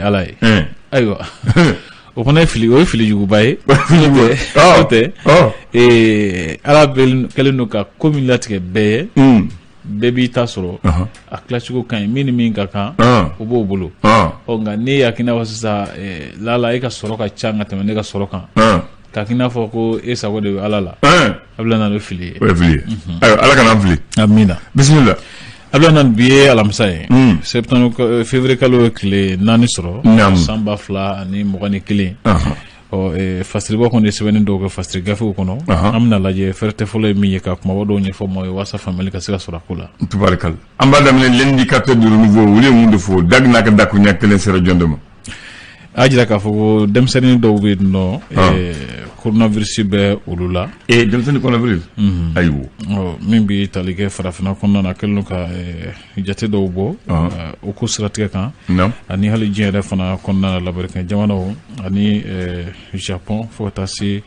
ala ye ayiwa o fana ye fili o ye fili juguba ye o tɛ ala kɛlen don ka ko min latigɛ bɛɛ ye bɛɛ b'i ta sɔrɔ a tilacogo ka ɲi min ni min ka kan o b'o bolo nka n'i y'a k'i n'a fɔ sisan lala e ka sɔrɔ ka ca ka tɛmɛ ne ka sɔrɔ kan k'a k'i n'a fɔ ko e sago de bɛ ala la Ablaye naamu fili ye o ye fili ye ala kana an fili amina bisimila Ablaye naamu bi ye alamisa ye sɛ février kalo ye tile naani sɔrɔ san ba fila ani mugan ni kelen ɔ fasiribɔ kɔni ye sɛbɛnni dɔw kɛ fasiri gafew kɔnɔ an bɛna lajɛ fɛrɛ tɛ fɔlɔ ye min ye ka kumaba dɔw ɲɛfɔ maaw ye walasa faamuyali ka se ka sɔrɔ a ko la tubarikala an b'a daminɛ l'indicateur du renouveau olu ye mun de fɔ da n'a ka dakuruɲɛ kelen sera jɔn de ma a jira k'a fɔ ko denmisɛnnin dɔw bɛ yen nɔ ah. koronavirisi bɛ olu la ee denmisɛnnin koronavirisi mhm. ayiwa min bɛ tali kɛ farafinna kɔnɔna na kɛlen don ka jate dɔw bɔ ah. o ko siratigɛ kan ani hali diɲɛ yɛrɛ fana kɔnɔna na lamerikɛn jamanaw ani japɔn fo ka taa se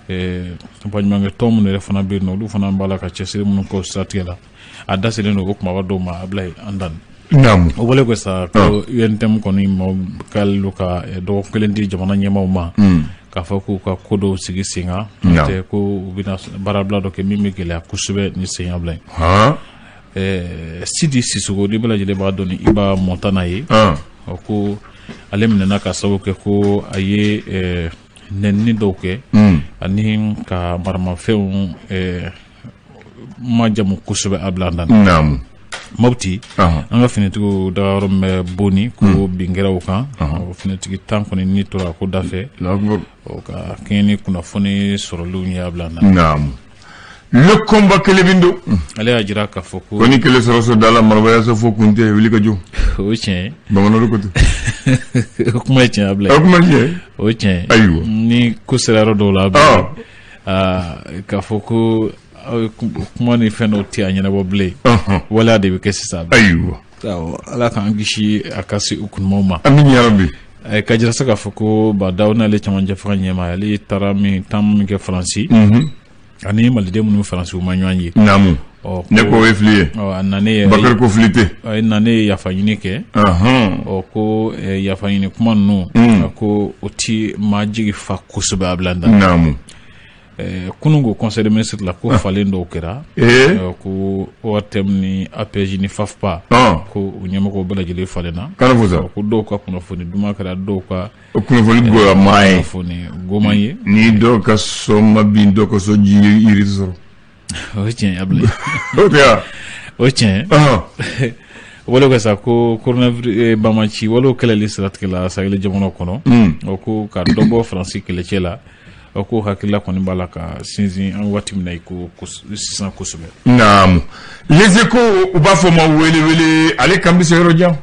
baɲumankɛ tɔn minnu yɛrɛ fana bɛ yen nɔ olu fana b'a la ka cɛsiri minnu k'o siratigɛ la a da selen don o kumaba dɔw ma Ablaye Handane Naam. o bɔlen kɔ sa ko ah. UNTM kɔni maaw kɛlen don ka eh, dɔgɔkun kelen di jamana ɲɛmaaw ma hmm. k'a fɔ k'u ka ko dɔw sigi sen kan tɛ ko u bɛna baarabila dɔ kɛ min bɛ gɛlɛya kosɛbɛ ni senyabila ye eh, Sidi Sissoko ni bɛɛ lajɛlen b'a dɔn ni Iba Montana ye ah. ko ale minɛna ka sababu kɛ ko a ye eh, nɛnini dɔw kɛ hmm. ani ka maramafɛnw majamu kosɛbɛ Ablaye Handane naamu mɔti an ka finitigiw dagayɔrɔ bɛ Boni ko hmm. bin kɛra o kan finitigi tan kɔni ni tora ko dafɛ ka kɛɲɛ ni kunnafoni sɔrɔlenw ye Ablaye Handane naamu Le Combat kelen bɛ don hmm. ale y'a jira k'a fɔ ko ni kɛlɛ sera so da la marayaso fo kun tɛ wuli ka jɔ o tiɲɛ bamanan ko kuma tiɲɛ Ablaye kuma o tiɲɛ ayiwa ni ko sera yɔrɔ dɔw la k'a fɔ ko aw ye kuma ni fɛn dɔw tɛ a ɲɛnabɔ bilen waleya de bɛ kɛ sisan ayiwa ala k'an kisi a ka se u kunamaw ma amina yarabi k'a jira sa k'a fɔ ko Bah N'Daw n'ale cɛmancɛ fanga ɲɛmaa ale taara min taama min kɛ faransi ani maliden minnu bɛ faransi u ma ɲɔgɔn ye ɔ ne ko o ye fili ye ɔ a nanen yɛrɛ bakari ko fili tɛ ɔ, i nanen ye yafa ɲini kɛ Ahan. ɔ ko eh, yafa ɲini kuma ninnu Mm. a ko o ti maa jigi fa kosɛbɛ Ablaye Handane naamu Eh, kunun ko conseil de ministre la ko falen dɔw kɛra ee ɔ, ko ORTM ni APEJ ni FAFPA ɔn ko u ɲɛmɔgɔw bɛɛ lajɛlen falenna kana fo sa ɔ, ko dɔw ka kunnafoni duman kɛra dɔw ka kunnafoni goyama ye kunnafoni goman ye ni dɔw ka so ma bin dɔw ka so ti yiri sɔrɔ o ye tiɲɛ ye Abulayi o tɛ wa o ye tiɲɛ ye o bɔlen kɔ sa ko coronavirus banbaanci walew kɛlɛli siratigɛ la sahel jamanaw kɔnɔ o ko ka dɔ bɔ faransi kɛlɛcɛw la o ko hakilila kɔni b'a la ka sinsin an waati min na i ko sisan kosɛbɛ naamu les échos u b'a fɔ ma wele wele ale kan bɛ se yɔrɔ jan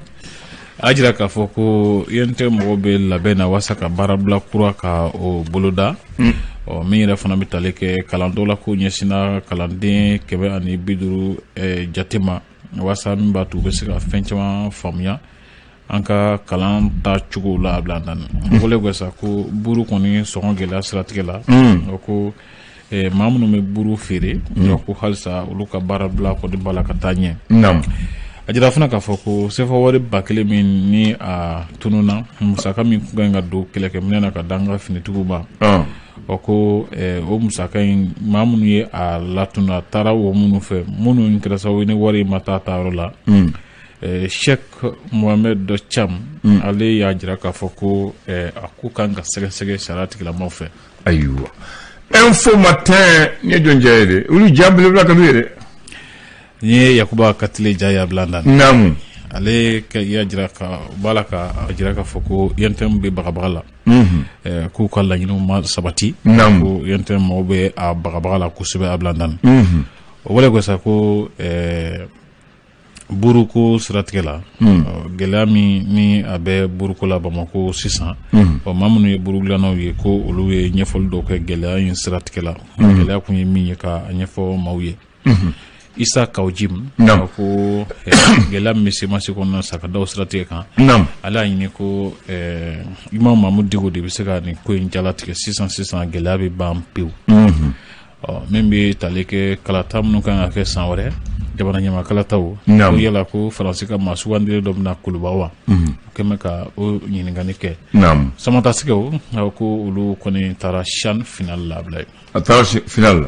a jira k'a fɔ ko UNTM mɔgɔw bɛ labɛn na walasasa ka baarabila kura ka o boloda mm. ɔ min yɛrɛ fana bɛ tali kɛ kalan dɔ la k'o ɲɛsinna kalanden kɛmɛ ani bi duuru eh, jate ma walasasa min b'a to u bɛ se ka fɛn caman faamuya an ka kalan ta cogo la Abulayi Handan mm. o bɔlen kɔ sa ko buru kɔni sɔngɔ gɛlɛya siratigɛ la mm. ko eh, maa minnu bɛ buru feere mm. ko halisa olu ka baarabila kɔni b'a la ka taa ɲɛ a jira fana k'a fɔ ko sefa wari ba kelen min ni a tununna musaka min kan ka don kɛlɛkɛminɛ na ka d'an ka finitigiw ma ah. ɔ ko eh, o musaka in maa minnu ye a latunu a taara o minnu fɛ minnu kɛra sababu ye ni wari in ma taa taayɔrɔ la mm. eh, sheikh mohamed cam mm. ale y'a jira k'a fɔ ko eh, a ko kan ka sɛgɛsɛgɛ sariya tigilamaw fɛ ayiwa info matin ne jɔn ja ye dɛ olu ja belebeleba ka ye dɛ n ye yakuba katile ja ye Abulayi Handan naamu ale k'a jira k'a b'a la k'a jira k'a fɔ ko UNTM bɛ bagabaga la mhm. eh, k'u ka laɲiniw ma sabati ko UNTM mɔgɔw bɛ a bagabaga la kosɛbɛ Abulayi Handan mhm. o bɔlen kɔ sa ko eh, buruko siratigɛ la hmm. gɛlɛya min ni a bɛ buruko la bamakɔ sisan hmm. ɔ maa minnu ye burugilannaw ye ko olu ye ɲɛfɔli dɔw kɛ gɛlɛya in siratigɛ la hmm. gɛlɛya kun ye min ye k'a ɲɛfɔ maaw ye isa kawjim naamu. ko eh, gɛlɛya min bɛ semasi kɔnɔna sa ka daw siratigɛ kan naamu. ale y'a ɲini ko eh, imam mamudu diko de bɛ se ka nin ko in jalatigɛ sisan sisan gɛlɛya bɛ ban pewu mm -hmm. ɔ min bɛ tali kɛ kalata minnu kan ka kɛ san wɛrɛ jamana ɲɛmaa kalataw ko Naamu. yala ko faransi ka maa sugandilen dɔ bɛ na kuluba wa u kɔni bɛ ka o ɲininkali kɛ naamu samatasɛgɛw ko olu kɔni taara CHAN finali la Abulayi a taara si- final la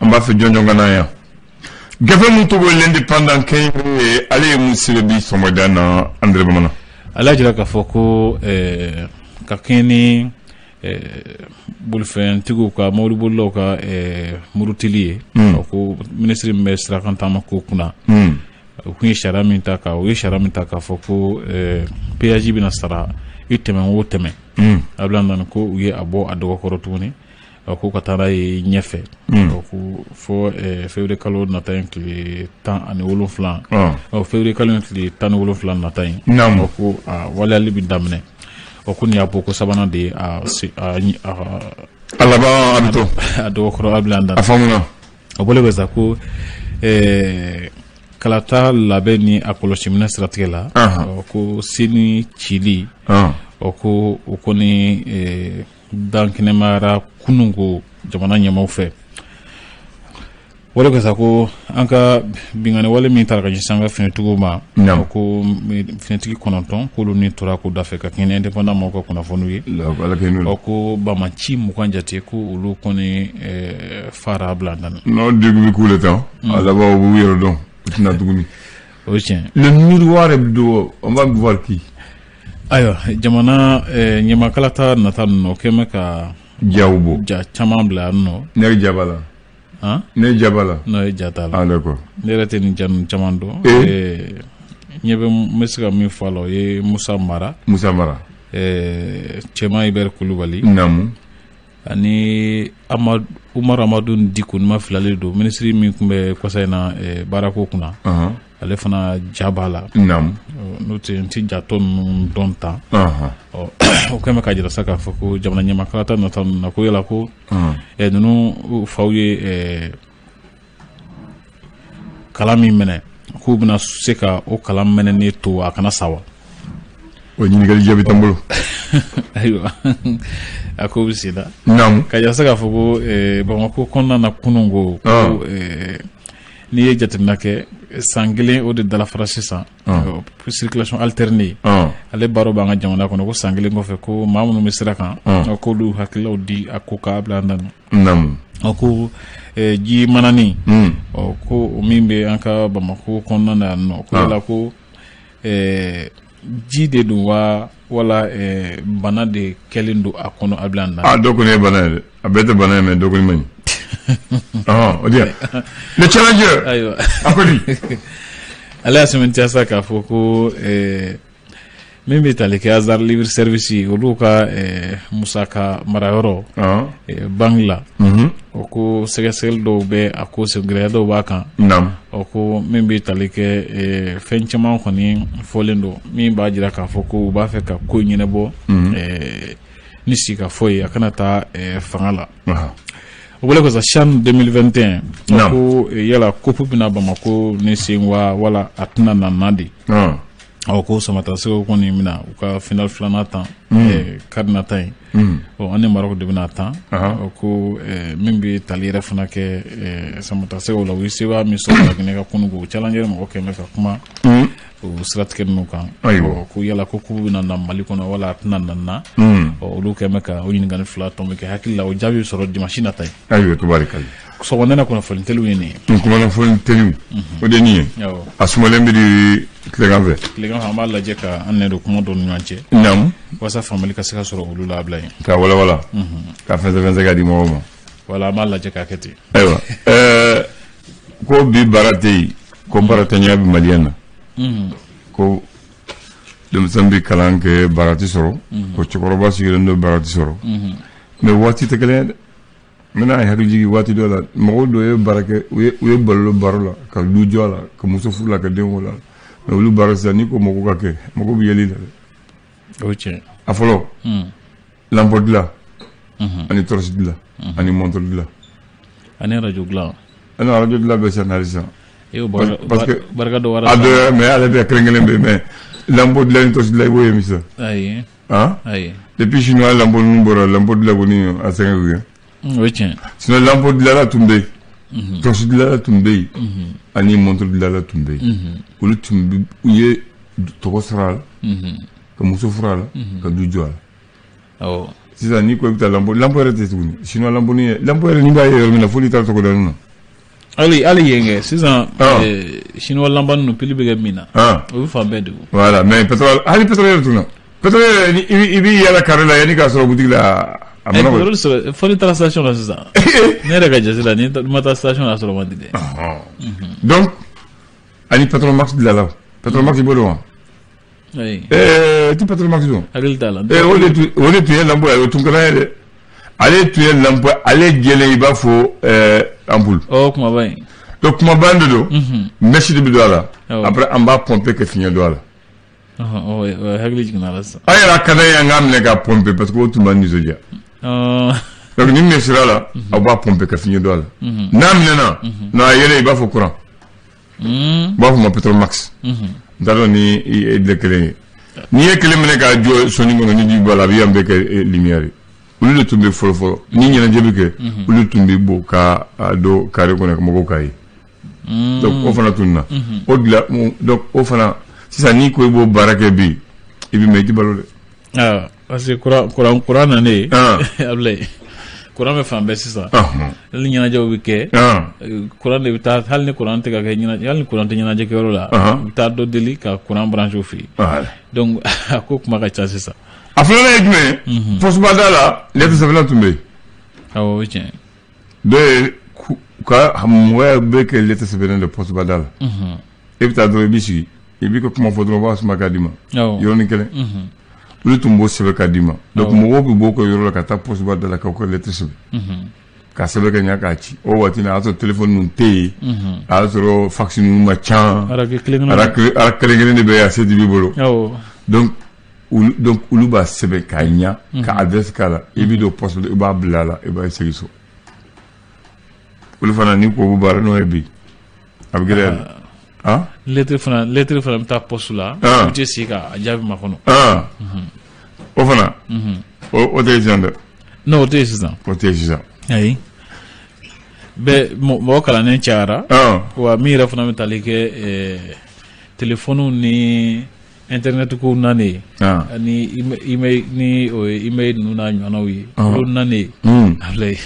an b'a fɛ jɔnjɔn ka na yan gafe min tɔgɔ ye l'indépendant kɛnyɛrɛye ye ale ye mun sɛbɛn bi sɔgɔmada na andre bamanan ale y'a jira k'a fɔ ko ɛɛ ka kɛɲɛ ni bolifɛntigiw ka mɔbilibolilaw ka murutili ye ko minisiri min bɛ sirakan taama ko kunna u tun ye sariya min ta u ye sariya min ta k'a fɔ ko péage bɛna sara i tɛmɛ o tɛmɛ Abulayi Handan ko u ye a bɔ a dɔgɔkɔrɔ tuguni ko ka taa n'a ye ɲɛfɛ ko fo février kalo nata in tile tan ani wolonwula février kalo tile tan ni wolonwula nata in ko a waleyali bɛ daminɛ o ko y'a bɔ ko sabanan de ye a bolo bɛ sa ko kalata labɛn ni a kɔlɔsi minɛ siratigɛ la ko sen cili ko o ko dankɛnɛmayara kunun ko jamana ɲɛmaw fɛ wale ka sa ko an ka binkanni wale min taara ka ɲɛsin an ka finitigiw ma ko finitigi kɔnɔntɔn k'olu ni tora ko dafɛ ka kɛɲɛ indépendant mɔgɔw ka kunnafoniw ye ko banbaanci mugan jate ko olu kɔni eh, faara a bila an dan n'o degun bɛ k'u la tan mm. a laban u b'u yɛrɛ dɔn u tɛ na tuguni o ye tiɲɛ le miroir hebdo on va voir qui ayiwa jamana eh, ɲɛmaa kalata nata ninnu o kɛmɛ ka jaw bɔ ja caman bila yan nɔ ne ja b'a la han ne ja b'a la non e ja t'a la ah d'accord ne yɛrɛ tɛ nin ja ninnu caman dɔn Eh. Eh, n ɲɛ bɛ n bɛ se ka min fɔ a la o ye musa mara musa mara eh, cɛman ibɛri kulubali naamu ani umaru amadu diko ni n ma fili ale don minisiri min tun bɛ kɔsa in na eh, baarako kunna ale fana ja b'a la n'o tɛ n tɛ ja tɔ ninnu dɔn tan o kɛlen ka jira sa k'a fɔ ko jamana ɲɛmaa kalata nata ninnu na ko yala ko eh, ninnu faw ye eh, kala min mɛnɛ k'u bɛna se ka o kala mɛnɛnen to a kana sa wa o ɲininkali jaabi t'an bolo ayiwa a ko bɛ sen na naamu ka jira sa k'a fɔ ko eh, bamakɔ kɔnɔna na kunun ko ah. ko eh, n'i ye jateminɛ kɛ san kelen o de dalafara sisan ah. eh, circulation alternée ah. ale baaraw b'an ka jamana kɔnɔ ko san kelen kɔfɛ ko maa minnu bɛ sira kan k'olu hakililaw di a ko k'a bila an dan naamu ɔ ko eh, ji mananin Mm. ɔ ko o min bɛ an ka bamakɔ kɔnɔna na yan nɔ ko Ah. yala ko eh, ji de don wa wala eh, bana de kɛlen don a kɔnɔ a bila an dan dɔ kɔni ye bana ye dɛ a bɛɛ tɛ bana ye mais dɔ kɔni man ɲi ɔhɔn o diya le challenger ayiwa a ko di ale y'a sɛmɛntiya sa k'a fɔ ko eh, min bɛ tali kɛ azar libre service olu ka musaka marayɔrɔ banque la o ko sɛgɛsɛgɛli dɔw bɛ a ko gɛlɛya dɔw b'a kan o ko min bɛ tali kɛ fɛn caman kɔni fɔlen don min b'a jira k'a fɔ ko u b'a fɛ ka ko ɲɛnabɔ ni sigikafɔ ye a kana taa fanga la o bɔlen kɔ sa CHAN deux mille vingt et un ko yala coupe bɛ na bamakɔ nin sen wa wala a tɛna na de ɔ ko samatasɛgɛw kɔni bɛna u ka final filanan tan mm. eh, kari nata in mm. ɔ an ni marɔku de bɛna tan ɔ ko eh, min bɛ tali yɛrɛ fana kɛ eh, samatasɛgɛw la u ye sebaaya min sɔrɔ laginɛ kan kunun ko challenger mɔgɔ kɛmɛ ka kuma mm. o siratigɛ ninnu kan ɔ ko yala ko kupu bɛna na mali kɔnɔ wala a tɛna na na ɔ olu kɛmɛ ka o ɲininkali fila tɔn bɛ kɛ hakili la o jaabi bɛ sɔrɔ dimansi nata ye sɔgɔmada kunnafoni teliw ye nin ye kunnafoni teliw o de nin ye a sumalen bɛ di tilegan fɛ tilegan fɛ an b'a lajɛ ka an nɛ don kuma dɔ ni ɲɔgɔn cɛ naamu walasa faamuyali ka se ka sɔrɔ olu la Abulayi ka walawala ka fɛnsɛfɛnsɛ ka di mɔgɔw ma wala an b'a lajɛ k'a kɛ ten ayiwa ɛɛ ko bi baara tɛ yen ko baaratanya bɛ maliyɛn na ko denmisɛn bɛ kalan kɛ baara tɛ sɔrɔ ko cɛkɔrɔba sigilen don baara tɛ sɔrɔ mɛ waati tɛ kelen ye dɛ n bɛna i hakili jigin waati dɔ la mɔgɔw dɔ ye baara kɛ u ye balo olu baara la ka du jɔ a la ka muso furu a la ka den wolo a la mɛ olu baara sisan n'i ko mɔgɔw k'a kɛ mɔgɔw bɛ yɛlɛ i la dɛ o ye tiɲɛ ye. a fɔlɔ lampɔ dilan ani tɔrɔsi dilan ani mɔntɔrɔ dilan ani arajo dilan ani arajo dilan bɛ sisan hali sisan e y'o barika parce que- barika dɔ wɛrɛ a dɔ mɛ ale bɛ kelen kelen bɛ mɛ lampɔ dilan ni tɔrɔsi dilan i b'o ye min sa ayi Aa ayi depuis siniwa lampɔ ninnu bɔra lampɔ dilan kɔni a sɛgɛn sinon lampɔ dilanna tun bɛ yen tɔrɔsi dilanna tun bɛ yen ani mɔntɔrɔ dilanna tun bɛ yen olu tun u ye tɔgɔ sɔrɔ a la ka muso furu a la ka du jɔ a la sisan n'i ko i bɛ taa lampɔ yɛrɛ tɛ tuguni sinon lampɔ yɛrɛ n'i b'a ye yɔrɔ min na fo n'i taara togoda ninnu na Hali hali yen kɛ sisan siniwa lampɔ ninnu pili bɛ kɛ min na o bɛ fan bɛɛ de ko wala mɛ hali pétrole yɛrɛ tununna pétrole i b'i yaala kare la yanni i k'a sɔrɔ butigi la a fo n'i taara station sisan ne yɛrɛ ka jate la n'i ma taa station a sɔrɔ man di dɛ donc ani petromax dilanna petromax i b'o dɔn wa oui ɛɛ ti petromax dɔn i hakili t'a la ee o de tun o de tun ye lampɔ ye o tun ka d'an ye dɛ ale tun ye lampɔ ale jɛlen i b'a fɔ ɛɛ anpulu ɔ kumaba in donc kumaba de don mɛsi de bɛ don a la Awɔ. après an b'a pɔnpe ka fiɲɛ don a la ɔhɔn, ɔ, oui, ɔ, hakili jiginna a la sisan an yɛrɛ a ka d'an ye an k'a minɛ k'a pɔnpe parce que o tun b'an nisɔndiya Ɔ, donc ni min sera a la aw b'a pɔnpe ka fiɲɛ don a la n'a mɛnɛna non a yeelen i b'a fɔ kuran Hmm. u b'a fɔ a ma petromax Mhm. n t'a dɔn ni i delila ka kelen ye n'i ye kelen minɛ k'a jɔ so nin kɔnɔ ni ji b'a la a bɛ yan bɛɛ kɛ eh, lumière ye olu de tun bɛ fɔlɔ fɔlɔ ni ɲɛnajɛ bɛ kɛ olu de tun bɛ bɔ ka a don kare kɔnɔ ka mɔgɔw k'a ye Hmm. donc o fana tununna o dilan o- donc o fana sisan n'i ko i b'o baara kɛ bi i bɛ mɛn i tɛ balo dɛ Ah. Parce que kuran kuran kuran nanen Ɔn. Ablaye kuran bɛ fan bɛɛ sisan Ɔhɔn. hali ni ɲɛnajɛw bɛ kɛ Ɔn. euh, kuran de bɛ taa hali ni kuran tɛ ka kɛ ɲɛnajɛ hali ni kuran tɛ ɲɛnajɛ kɛyɔrɔ la Ɔhɔn. u bɛ taa dɔ deli ka kuran branché u fɛ yen Voilà. donc a ko kuma ka ca sisan a filanan ye jumɛn ye pɔsiba da la lɛtiri sɛbɛnna tun bɛ yen awɔ o ye tiɲɛ ye. dɔ y'a ka mɔgɔya bɛɛ kɛ lɛtiri sɛbɛnna de pɔsiba da la e bɛ taa dɔrɔn i b'i sigi i b'i ka kuma fɔ dɔrɔn u b'a suma k'a d'i ma yɔrɔnin kelen olu tun b'o sɛbɛn k'a d'i ma donc mɔgɔw bɛ bɔ u ka yɔrɔ la ka taa pɔsiba da la k'aw ka lɛtiri sɛbɛn k'a sɛbɛn ka ɲɛ k'a ci o waati na a y'a sɔrɔ telefɔni ninnu tɛ yen a y'a sɔrɔ fakisi ninnu man ca ara kelen kelen de bɛ yen a se tɛ bɛɛ bolo donc olu b'a sɛbɛn k'a ɲɛ ka adrɛsi k'a la i bɛ don pɔsi i b'a bila a la i b'a segin so olu fana n'i ko baara n'o ye bi A bɛ gɛlɛya dɛ, an, lettre fana lettre fana bɛ taa poste la, an, u tɛ sigi k'a jaabi makɔnɔ, an, unhun, o fana, unhun, o tɛ yen sisan dɛ, non o tɛ yen sisan, o tɛ yen sisan, ayi, bɛɛ mɔgɔ kalannen cayara, an, wa min yɛrɛ fana bɛ tali kɛ ɛɛ téléphone ni Ntɛnɛnɛnɛt ko na ni bɛ ninnu ɲɔgɔnw ye ko na alayi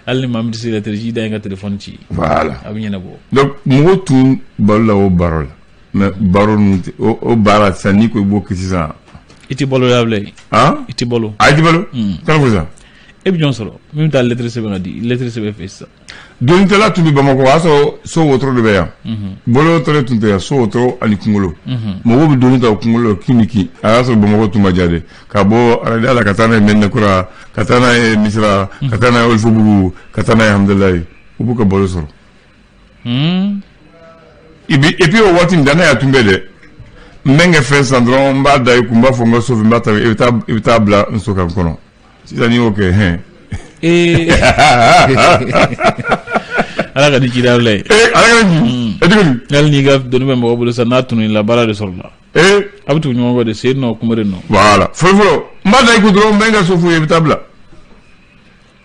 hali ma bɛ se kareji da in ka tile ci a bɛ ɲɛnabɔ mɔgɔ tun balo la o baro la mɛ baro o baara sisan ni ko i bɔ ki sisan i tɛ balo y'a i tɛ balo a bolo e bɛ jɔn sɔrɔ min bɛ taa lɛtiri sɛbɛn ka dilɛtiri sɛbɛn fɛ sisan Donitala tun bɛ bamakɔ y'a sɔrɔ so wotoro de bɛ yan bolo wotoro tun tɛ yan so wotoro ani kunkolo mɔgɔw bɛ doni ta u kunkolo la kin ni kin a y'a sɔrɔ bamakɔ tun man jan ka bɔ Arayida la ka taa n'a ye Mɛdinakura ka taa n'a ye Misira ka taa n'a ye Wɔlɔfɔbugu ka taa n'a ye Hamdalaye u b'u ka balo sɔrɔ et puis o waati dannaya tun bɛ dɛ n bɛ n ka fɛn san dɔrɔn n b'a da i kun n b'a fɔ n ka so i bɛ taa bila n so ka kɔnɔ sisan n'i y'o kɛ hɛn. ee ala ka di ci Ablaye. ee ala ka di. e tigi di. hali n'i ka doni bɛ mɔgɔ bolo sisan n'a tunu i la baara de sɔrɔla. ee a bɛ tugu ɲɔgɔn kɔ de sen nɔ kunbere nɔ. voilà fɔlɔfɔlɔ n b'a da i kun dɔrɔn n bɛ n ka so f'u ye i bɛ t'a bila.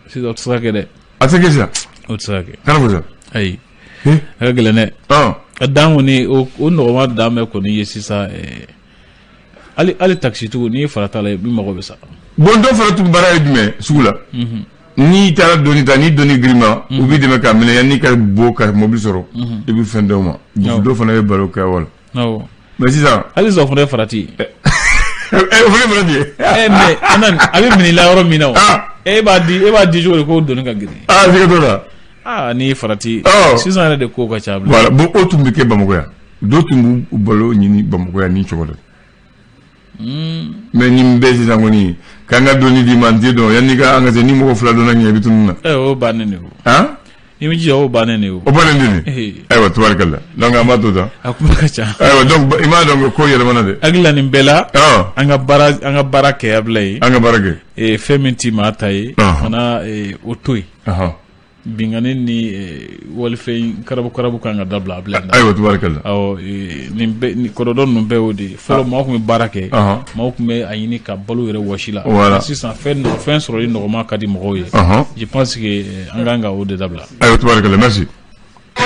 sisan o tɛ se ka kɛ dɛ. a tɛ kɛ sisan. o tɛ se ka kɛ. kana fɔ sisan. ayi. a ka gɛlɛn dɛ. ɔ. a dan kɔni o o nɔgɔma dan bɛ kɔni ye sisan ɛɛ. hali takisitigiw n'i farati a la i mago bɛ sa bon dɔ fana tun baara ye jumɛn sugu la mhm. n'i taara doni ta ni doni girinman u mhm. b'i dɛmɛ k'a minɛ yanni i ka bɔ ka mobili sɔrɔ mhm. i bɛ fɛn d'u ma dɔ fana ye baara kɛ voilà mais sisan hali sisan o fana ye farati eh, eh, eh, o fana ye farati ye mais a bɛ minɛ i la yɔrɔ min na o ah. e b'a di e b'a di cogo di ko doni ka girin aa ah, siga t'o la aa ah, n'i farati oh. sisan yɛrɛ de ko ka ca bilen bon o tun bɛ kɛ bamakɔ yan Dɔw tun b'u balo ɲini Bamakɔ yan nin cogo la. Mais nin bɛɛ sisan kɔni ka n ka doni d'i ma n t'i dɔn yanni ka an ka se ni mɔgɔ fila donna ɲɛ i bɛ tunun n na. Ɛ o bannen de ye o. Han? I b'i jija o bannen de ye o. O bannen de ye nin ye. Ayiwa tubarikala donc an b'a to tan. A kuma ka ca. Ayiwa donc i m'a dɔn ko yɛlɛmana dɛ. Hakili la nin bɛɛ la. Ɔn! An ka baara an ka baara kɛ Ablaye. An ka baara kɛ. Ee fɛn min t'i maa ta ye. Ɔnhɔn! Fana ee o to yen. Ɔnhɔn! binkanni ni walifɛn karabu karabu kan ka dabila Ablaye ayiwa tubarikala nin kɔrɔdɔn ninnu bɛɛ y'o de ye fɔlɔ maaw tun bɛ baara kɛ maaw tun bɛ a ɲini ka balo yɛrɛ wɔsi la voilà sisan fɛn fɛn sɔrɔli nɔgɔman ka di mɔgɔw ye je pense que an ka kan ka o de dabila ayiwa tubarikala